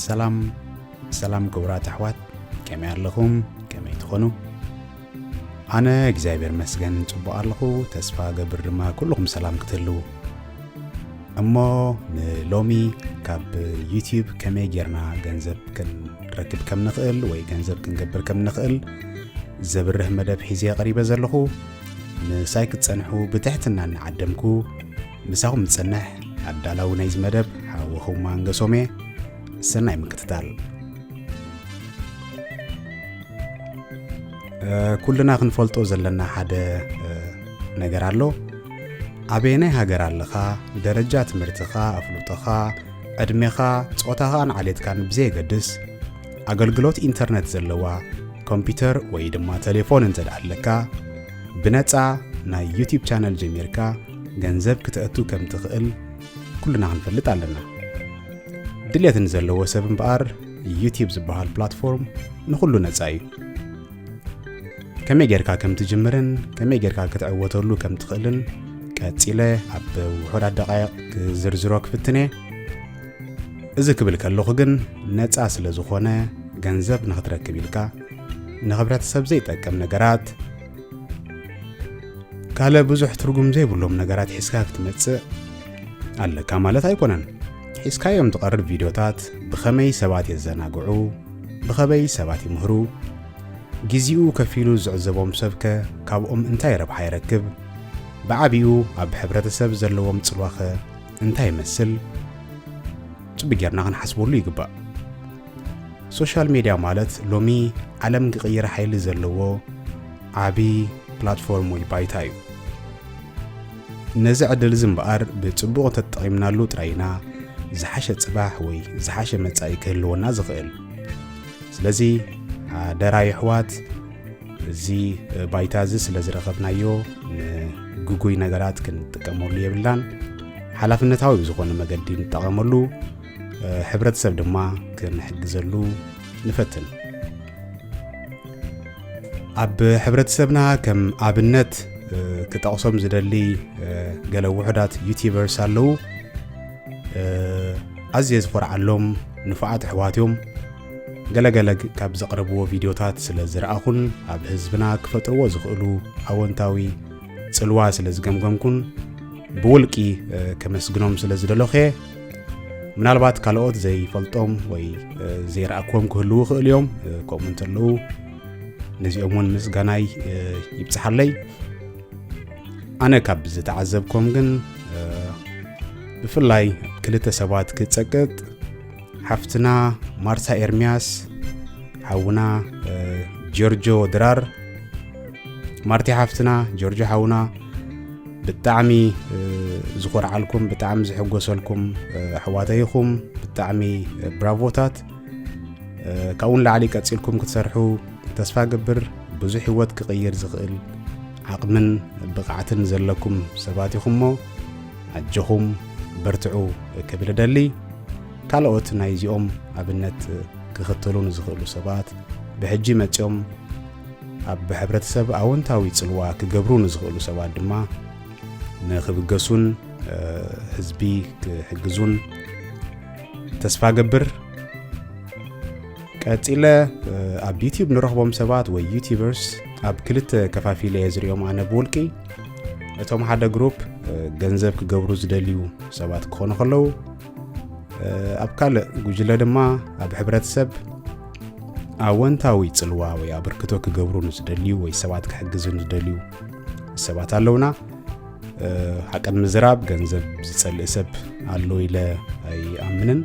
ሰላም ሰላም ክቡራት ኣሕዋት ከመይ ኣለኹም ከመይ ትኾኑ ኣነ እግዚኣብሔር መስገን ጽቡቕ ኣለኹ ተስፋ ገብር ድማ ኩልኹም ሰላም ክትህልው እሞ ንሎሚ ካብ ዩትዩብ ከመይ ጌርና ገንዘብ ክንረክብ ከም ንኽእል ወይ ገንዘብ ክንገብር ከም ንኽእል ዘብርህ መደብ ሒዘ ቀሪበ ዘለኹ ምሳይ ክትጸንሑ ብትሕትና እናዓደምኩ ምሳኹም ዝጸንሕ ኣዳላዊ ናይዚ መደብ ሓወኹም ኣንገሶም እየ ሰናይ ምክትታል ኩልና ክንፈልጦ ዘለና ሓደ ነገር ኣሎ ኣበየናይ ሃገር ኣለኻ፣ ደረጃ ትምህርትኻ፣ ኣፍልጦኻ፣ ዕድሜኻ፣ ጾታኻን ዓሌትካን ብዘየገድስ ኣገልግሎት ኢንተርነት ዘለዋ ኮምፒውተር ወይ ድማ ቴሌፎን እንተ ኣለካ ብነፃ ናይ ዩቲብ ቻነል ጀሚርካ ገንዘብ ክተእቱ ከም ትኽእል ኩልና ክንፈልጥ ኣለና ድልት ንዘለዎ ሰብ እምበኣር ዩቲብ ዝበሃል ፕላትፎርም ንኹሉ ነፃ እዩ ከመይ ጌርካ ከም ትጅምርን ከመይ ጌርካ ክትዕወተሉ ከም ትኽእልን ቀጺለ ኣብ ውሑዳት ደቓይቕ ክዝርዝሮ ክፍትን እየ እዚ ክብል ከለኹ ግን ነፃ ስለ ዝኾነ ገንዘብ ንኽትረክብ ኢልካ ንሕብረተሰብ ዘይጠቅም ነገራት ካልእ ብዙሕ ትርጉም ዘይብሎም ነገራት ሒዝካ ክትመጽእ ኣለካ ማለት ኣይኮነን ሒዝካዮም ትቐርብ ቪድዮታት ብኸመይ ሰባት የዘናግዑ ብኸበይ ሰባት ይምህሩ ግዜኡ ከፊሉ ዝዕዘቦም ሰብከ ካብኦም እንታይ ረብሓ ይረክብ? ብዓቢኡ ኣብ ሕብረተሰብ ዘለዎም ጽልዋኸ እንታይ ይመስል? ጽብ ጌርና ክንሓስበሉ ይግባእ። ሶሻል ሜድያ ማለት ሎሚ ዓለም ክቕይር ሓይሊ ዘለዎ ዓቢ ፕላትፎርም ወይ ባይታ እዩ። ነዚ ዕድል እዚ እምበኣር ብጽቡቕ ተጠቒምናሉ ጥራይ ኢና ዝሓሸ ጽባሕ ወይ ዝሓሸ መጻኢ ክህልወና ዝኽእል። ስለዚ ሓደራ የሕዋት እዚ ባይታ እዚ ስለ ዝረኸብናዮ ንግጉይ ነገራት ክንጥቀመሉ የብልናን ሓላፍነታዊ ብዝኾነ መገዲ ንጠቐመሉ ሕብረተሰብ ድማ ክንሕግዘሉ ንፈትን ኣብ ሕብረተሰብና ከም ኣብነት ክጠቕሶም ዝደሊ ገለ ውሑዳት ዩቲበርስ ኣለዉ ኣዝየ ዝኾርዓሎም ንፉዓት ኣሕዋት እዮም ገለገለ ካብ ዘቕረብዎ ቪድዮታት ስለ ዝረኣኹን ኣብ ህዝብና ክፈጥርዎ ዝኽእሉ ኣወንታዊ ጽልዋ ስለ ዝገምገምኩን ብውልቂ ከመስግኖም ስለ ዝደለኹ እየ ምናልባት ካልኦት ዘይፈልጦም ወይ ዘይረኣክዎም ክህልዉ ይኽእሉ እዮም ከምኡ እንተለዉ ነዚኦም እውን ምስጋናይ ይብፅሓለይ ኣነ ካብ ዝተዓዘብኮም ግን ብፍላይ ክልተ ሰባት ክጸቅጥ ሓፍትና ማርታ ኤርምያስ ሓውና ጆርጆ ድራር ማርቲ ሓፍትና ጆርጆ ሓውና ብጣዕሚ ዝኾርዓልኩም ብጣዕሚ ዝሕጎሰልኩም ኣሕዋተይኹም ብጣዕሚ ብራቮታት ካብኡ ንላዕሊ ቀፂልኩም ክትሰርሑ ተስፋ ገብር ብዙሕ ህይወት ክቕይር ዝኽእል ዓቕምን ብቕዓትን ዘለኩም ሰባት ኢኹም እሞ ኣጆኹም በርትዑ ክብል እደሊ ካልኦት ናይ እዚኦም ኣብነት ክኽተሉ ንዝኽእሉ ሰባት ብሕጂ መፂኦም ኣብ ሕብረተሰብ ኣወንታዊ ፅልዋ ክገብሩ ንዝኽእሉ ሰባት ድማ ንክብገሱን ህዝቢ ክሕግዙን ተስፋ ገብር ቀጺለ ኣብ ዩቲዩብ ንረኽቦም ሰባት ወይ ዩቲበርስ ኣብ ክልተ ከፋፊለ እየ ዝሪኦም ኣነ ብውልቂ እቶም ሓደ ግሩፕ ገንዘብ ክገብሩ ዝደልዩ ሰባት ክኾኑ ከለዉ ኣብ ካልእ ጉጅለ ድማ ኣብ ሕብረተሰብ ኣወንታዊ ጽልዋ ወይ ኣበርክቶ ክገብሩ ንዝደልዩ ወይ ሰባት ክሕግዙ ንዝደልዩ ሰባት ኣለውና ሓቀን ምዝራብ ገንዘብ ዝጸልእ ሰብ ኣሎ ኢለ ኣይኣምንን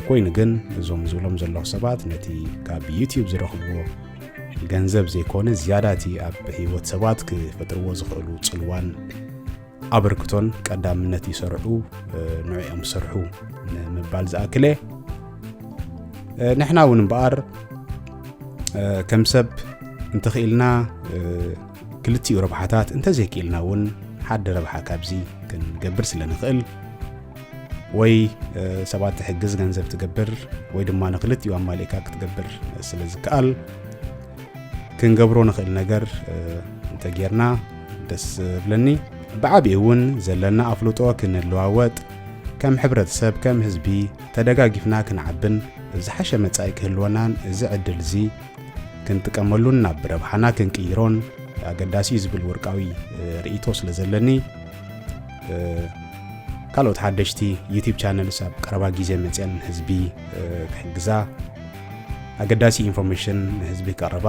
ኮይኑ ግን እዞም ዝብሎም ዘለኹ ሰባት ነቲ ካብ ዩትብ ዝረኽብዎ ገንዘብ ዘይኮነ ዝያዳ እቲ ኣብ ህይወት ሰባት ክፈጥርዎ ዝኽእሉ ጽልዋን ኣበርክቶን ቀዳምነት ይሰርሑ ንዕኦም ዝሰርሑ ንምባል ዝኣክለ ንሕና እውን እምበኣር ከም ሰብ እንተኽኢልና ክልቲኡ ረብሓታት እንተዘይክኢልና እውን ሓደ ረብሓ ካብዚ ክንገብር ስለ ንኽእል ወይ ሰባት ትሕግዝ ገንዘብ ትገብር ወይ ድማ ንክልቲኡ ኣማሊእካ ክትገብር ስለ ዝከኣል ክንገብሮ ንኽእል ነገር እንተጌርና ደስ ዝብለኒ ብዓብኡ እውን ዘለና ኣፍልጦ ክንለዋወጥ ከም ሕብረተሰብ ከም ህዝቢ ተደጋጊፍና ክንዓብን ዝሓሸ መጻኢ ክህልወናን እዚ ዕድል እዚ ክንጥቀመሉን ናብ ረብሓና ክንቅይሮን ኣገዳሲ እዩ ዝብል ውርቃዊ ርእይቶ ስለ ዘለኒ ካልኦት ሓደሽቲ ዩቲብ ቻነልስ ኣብ ቀረባ ግዜ መፅአን ህዝቢ ክሕግዛ ኣገዳሲ ኢንፎርሜሽን ንህዝቢ ቀረባ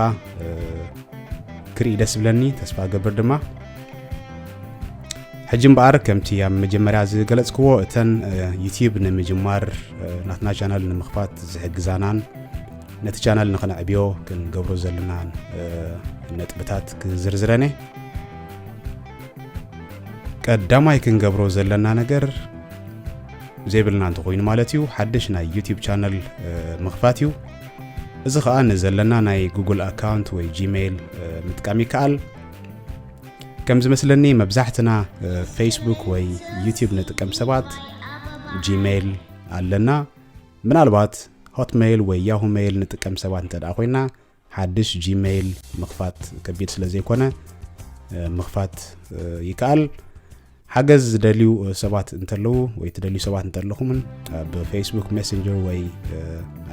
ክርኢ ደስ ብለኒ ተስፋ ገብር ድማ ሕጂ እምበኣር ከምቲ ኣብ መጀመርያ ዝገለጽክዎ እተን ዩቲብ ንምጅማር ናትና ቻናል ንምኽፋት ዝሕግዛናን ነቲ ቻናል ንኸነዕብዮ ክንገብሮ ዘለና ነጥብታት ክዝርዝረን እየ ቀዳማይ ክንገብሮ ዘለና ነገር ዘይብልና እንተኮይኑ ማለት እዩ ሓድሽ ናይ ዩቲብ ቻነል ምኽፋት እዩ እዚ ከዓ ንዘለና ናይ ጉግል ኣካውንት ወይ ጂሜይል ምጥቃም ይከኣል ከም ዝመስለኒ መብዛሕትና ፌስቡክ ወይ ዩቲብ ንጥቀም ሰባት ጂሜይል ኣለና ምናልባት Hotmail ወይ Yahoo Mail ንጥቀም ሰባት እንተድኣ ኮይና ሓድሽ Gmail ምኽፋት ከቢድ ስለ ዘይኮነ ምኽፋት ይከኣል። ሓገዝ ዝደልዩ ሰባት እንተለዉ ወይ ትደልዩ ሰባት እንተለኹምን ኣብ ፌስቡክ ሜሴንጀር ወይ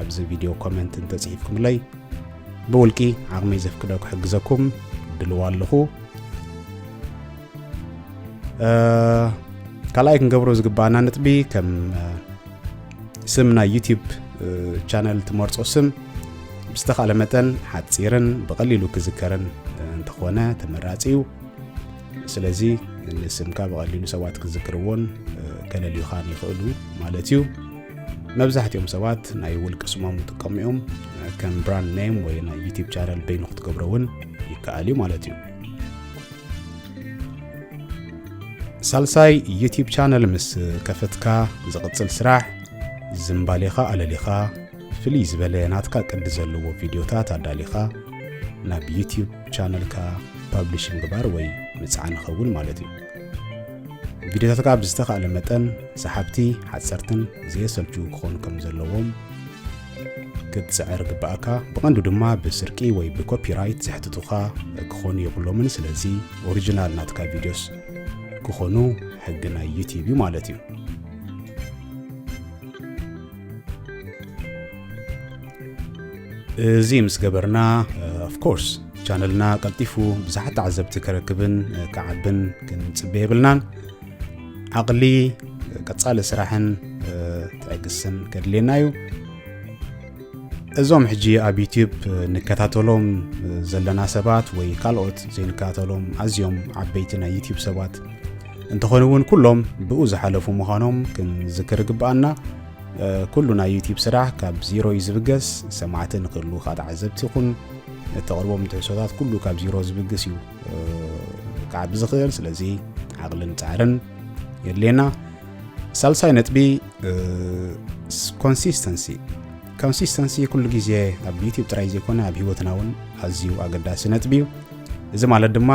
ኣብዚ ቪድዮ ኮመንት እንተጽሒፍኩምለይ ብውልቂ ዓቕመይ ዘፍቅዶ ክሕግዘኩም ድልዋ ኣለኹ። ካልኣይ ክንገብሮ ዝግባኣና ነጥቢ ከም ስም ናይ ዩቲብ ቻነል ትመርጾ ስም ብዝተኻለ መጠን ሓፂርን ብቐሊሉ ክዝከርን እንተኾነ ተመራፂ እዩ ስለዚ ንስምካ ብቐሊሉ ሰባት ክዝክርዎን ከለልዩኻን ይኽእሉ ማለት እዩ መብዛሕትኦም ሰባት ናይ ውልቂ ስሞም ይጥቀሙ እዮም ከም ብራንድ ኔም ወይ ናይ ዩቲብ ቻነል በይኑ ክትገብሮ እውን ይከኣል እዩ ማለት እዩ ሳልሳይ ዩቲብ ቻነል ምስ ከፈትካ ዝቕጽል ስራሕ ዝምባሌኻ ኣለሊኻ ፍልይ ዝበለ ናትካ ቅዲ ዘለዎ ቪድዮታት ኣዳሊኻ ናብ ዩቲብ ቻነልካ ፓብሊሽ ምግባር ወይ ምጽዓን ይኸውን ማለት እዩ ቪድዮታትካ ብዝተኻእለ መጠን ሰሓብቲ ሓጸርትን ዘየሰልችው ክኾኑ ከም ዘለዎም ክትጽዕር ግባእካ ብቐንዱ ድማ ብስርቂ ወይ ብኮፒራይት ዘሕትቱኻ ክኾኑ የብሎምን ስለዚ ኦሪጂናል ናትካ ቪድዮስ ክኾኑ ሕጊ ናይ ዩቲብ እዩ ማለት እዩ እዚ ምስ ገበርና ኦፍኮርስ ቻነልና ቀልጢፉ ብዙሓት ተዓዘብቲ ከረክብን ክዓብን ክንጽበ የብልናን ዓቕሊ ቀጻሊ ስራሕን ትዕግስን ከድልየና እዩ እዞም ሕጂ ኣብ ዩትብ ንከታተሎም ዘለና ሰባት ወይ ካልኦት ዘይንከታተሎም ኣዝዮም ዓበይቲ ናይ ዩትብ ሰባት እንተኾኑ እውን ኩሎም ብኡ ዝሓለፉ ምዃኖም ክንዝክር ግብኣና ኩሉ ናይ ዩትብ ስራሕ ካብ ዜሮ እዩ ዝብገስ ሰማዕቲ ንክህሉ ከዓ ተዓዘብቲ ይኹን እተቕርቦም ትሕሶታት ኩሉ ካብ ዜሮ ዝብግስ እዩ ክዓቢ ዝኽእል ስለዚ ዓቕልን ፃዕርን የድልየና ሳልሳይ ነጥቢ ኮንሲስተንሲ ኮንሲስተንሲ ኩሉ ግዜ ኣብ ዩትብ ጥራይ ዘይኮነ ኣብ ሂወትና እውን ኣዝዩ ኣገዳሲ ነጥቢ እዩ እዚ ማለት ድማ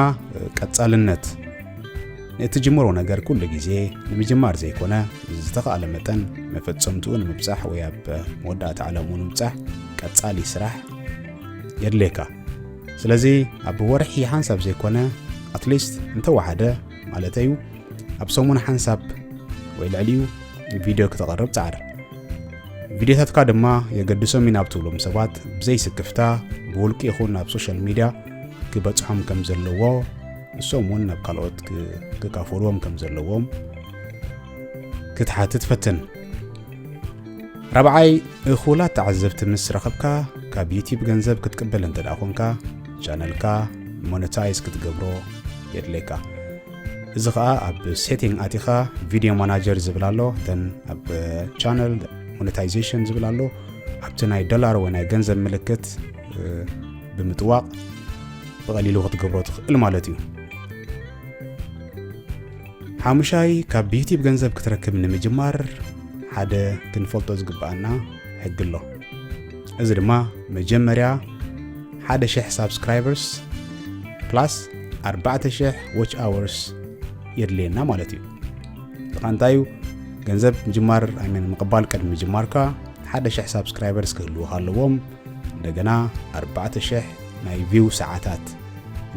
ቀጻልነት ንእትጅምሮ ነገር ኩሉ ግዜ ንምጅማር ዘይኮነ ዝተኻእለ መጠን መፈጸምትኡ ንምብጻሕ ወይ ኣብ መወዳእታ ዕላምኡ ንምብጻሕ ቀጻሊ ስራሕ የድልየካ ስለዚ ኣብ ወርሒ ሓንሳብ ዘይኮነ ኣትሊስት እንተወሓደ ማለት እዩ ኣብ ሰሙን ሓንሳብ ወይ ልዕሊኡ ቪድዮ ክተቐርብ ፃዕር ቪድዮታትካ ድማ የገድሶም ኢና ብትብሎም ሰባት ብዘይስክፍታ ብውልቂ ይኹን ኣብ ሶሻል ሚድያ ክበፅሖም ከም ዘለዎ ንሶም እውን ናብ ካልኦት ክካፈልዎም ከም ዘለዎም ክትሓትት ፈትን ራብዓይ እኹላት ተዓዘብቲ ምስ ረኸብካ ካብ ዩቲብ ገንዘብ ክትቅበል እንተ ደኣ ኾንካ ቻነልካ ሞነታይዝ ክትገብሮ የድልየካ እዚ ከዓ ኣብ ሴቲንግ ኣቲኻ ቪድዮ ማናጀር ዝብል ኣሎ ተን ኣብ ቻነል ሞነታይዜሽን ዝብል ኣሎ ኣብቲ ናይ ዶላር ወይ ናይ ገንዘብ ምልክት ብምጥዋቕ ብቐሊሉ ክትገብሮ ትኽእል ማለት እዩ ሓሙሻይ ካብ ዩቲብ ገንዘብ ክትረክብ ንምጅማር ሓደ ክንፈልጦ ዝግብኣና ሕጊ ኣሎ እዚ ድማ መጀመርያ ሓደ ሽሕ ሳብስክራይበርስ ፕላስ ኣርባዕተ ሽሕ ዎች ኣወርስ የድልየና ማለት እዩ እዚ ኸ እንታይ እዩ ገንዘብ ምጅማር ኣይመን ምቕባል ቅድሚ ምጅማርካ ሓደ ሽሕ ሳብስክራይበርስ ክህልውካ ኣለዎም እንደገና ኣርባዕተ ሽሕ ናይ ቪው ሰዓታት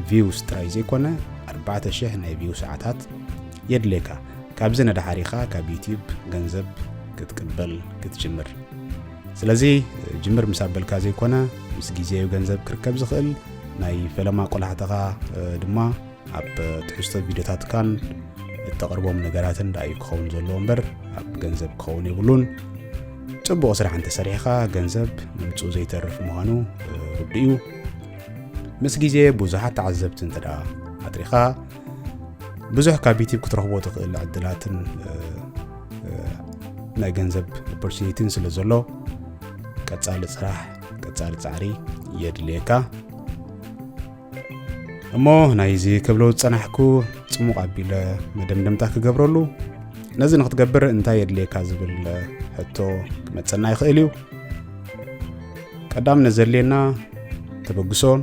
ቪውስ ጥራይ ዘይኮነ ኣርባዕተ ሽሕ ናይ ቪው ሰዓታት የድልየካ ካብዚ ንድሓር ኢኻ ካብ ዩትዩብ ገንዘብ ክትቅበል ክትጅምር ስለዚ ጅምር ምስ ኣበልካ ዘይኮነ ምስ ግዜዩ ገንዘብ ክርከብ ዝኽእል ናይ ፈለማ ቆላሕታኻ ድማ ኣብ ትሕዝቶ ቪድዮታትካን እተቕርቦም ነገራትን ደኣ እዩ ክኸውን ዘለዎ እምበር ኣብ ገንዘብ ክኸውን የብሉን ፅቡቕ ስራሕ እንተሰሪሕኻ ገንዘብ ምምፅኡ ዘይተርፍ ምዃኑ ርዱ እዩ ምስ ግዜ ብዙሓት ተዓዘብቲ እንተ ደኣ ኣትሪኻ ብዙሕ ካብ ዩቲብ ክትረኽቦ ትኽእል ዕድላትን ናይ ገንዘብ ኦፖርቹኒቲን ስለ ዘሎ ቀጻሊ ስራሕ ቀጻሊ ጻዕሪ የድልየካ እሞ ናይዚ ክብሎ ዝጸናሕኩ ጽሙቕ ኣቢለ መደምደምታ ክገብረሉ ነዚ ንክትገብር እንታይ የድልየካ ዝብል ሕቶ ክመጸና ይኽእል እዩ ቀዳምነት ዘድልየና ተበግሶን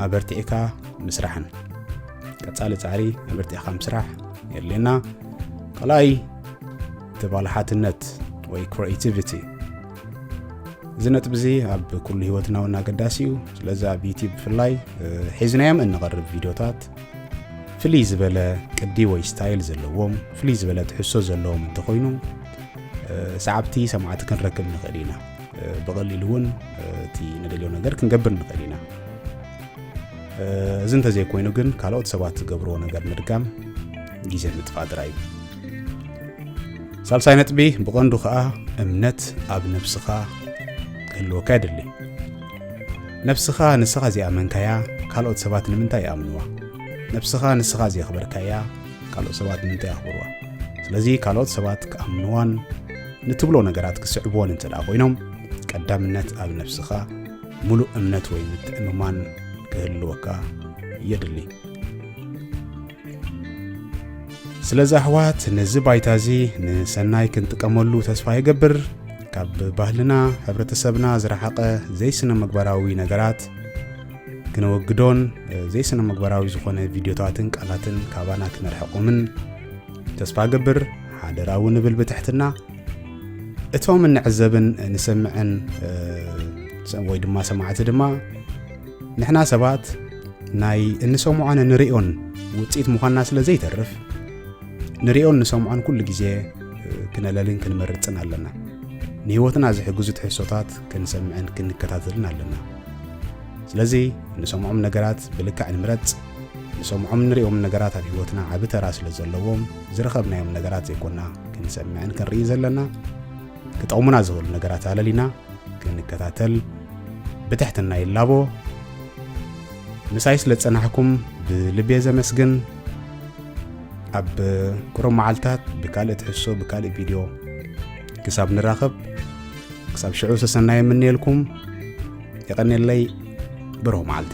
ኣበርቲዕካ ምስራሕን ቀጻሊ ጻዕሪ ኣበርቲዕካ ምስራሕ የድልየና ካልኣይ ተባላሓትነት ወይ ክሬቲቪቲ እዚ ነጥቢ እዚ ኣብ ኩሉ ህይወትና እውን ኣገዳሲ እዩ ስለዚ ኣብ ዩቲብ ብፍላይ ሒዝናዮም እንቐርብ ቪድዮታት ፍልይ ዝበለ ቅዲ ወይ ስታይል ዘለዎም ፍልይ ዝበለ ትሕሶ ዘለዎም እንተኮይኑ ሰዓብቲ ሰማዕቲ ክንረክብ ንኽእል ኢና ብቐሊሉ እውን እቲ ንደልዮ ነገር ክንገብር ንኽእል ኢና እዚ እንተዘይኮይኑ ግን ካልኦት ሰባት ዝገብርዎ ነገር ምድጋም ግዜ ምጥፋእ ጥራይ እዩ ሳልሳይ ነጥቢ ብቐንዱ ኸኣ እምነት ኣብ ነብስኻ ክህልወካ የድሊ ነብስኻ ንስኻ ዘይኣመንካያ ካልኦት ሰባት ንምንታይ ይኣምንዋ ነብስኻ ንስኻ ዘየኽበርካያ ካልኦት ሰባት ንምንታይ ኣኽብርዋ ስለዚ ካልኦት ሰባት ክኣምንዋን ንትብሎ ነገራት ክስዕብዎን እንተ ደኣ ኮይኖም ቀዳምነት ኣብ ነብስኻ ምሉእ እምነት ወይ ምትእምማን ክህልወካ የድሊ ስለዚ ኣሕዋት ነዚ ባይታ እዚ ንሰናይ ክንጥቀመሉ ተስፋ ይገብር ካብ ባህልና ሕብረተሰብና ዝረሓቐ ዘይስነ ምግባራዊ ነገራት ክነወግዶን ዘይስነ ምግባራዊ ዝኾነ ቪድዮታትን ቃላትን ካባና ክነርሕቆምን ተስፋ ገብር ሓደራ እውን ንብል ብትሕትና እቶም እንዕዘብን ንሰምዕን ወይ ድማ ሰማዕቲ ድማ ንሕና ሰባት ናይ እንሰምዖን እንሪኦን ውፅኢት ምዃንና ስለ ዘይተርፍ ንሪኦን ንሰምዖን ኩሉ ግዜ ክነለልን ክንመርፅን ኣለና ንህይወትና ዝሕግዙ ትሕሶታት ክንሰምዕን ክንከታተልን ኣለና ስለዚ ንሰምዖም ነገራት ብልክዕ ንምረፅ ንሰምዖም ንሪኦም ነገራት ኣብ ህይወትና ዓብ ተራ ስለ ዘለዎም ዝረኸብናዮም ነገራት ዘይኮና ክንሰምዕን ክንርኢ ዘለና ክጠቕሙና ዝኽእሉ ነገራት ኣለሊና ክንከታተል ብትሕትና ይላቦ። ምሳይ ስለ ዝጸናሕኩም ብልቤ ዘመስግን። ኣብ ቅሩብ መዓልታት ብካልእ ትሕሶ ብካልእ ቪድዮ ክሳብ ንራኸብ ክሳብ ሽዑ ሰሰናይ የምንየልኩም። የቐኔለይ ብሩህ መዓልቲ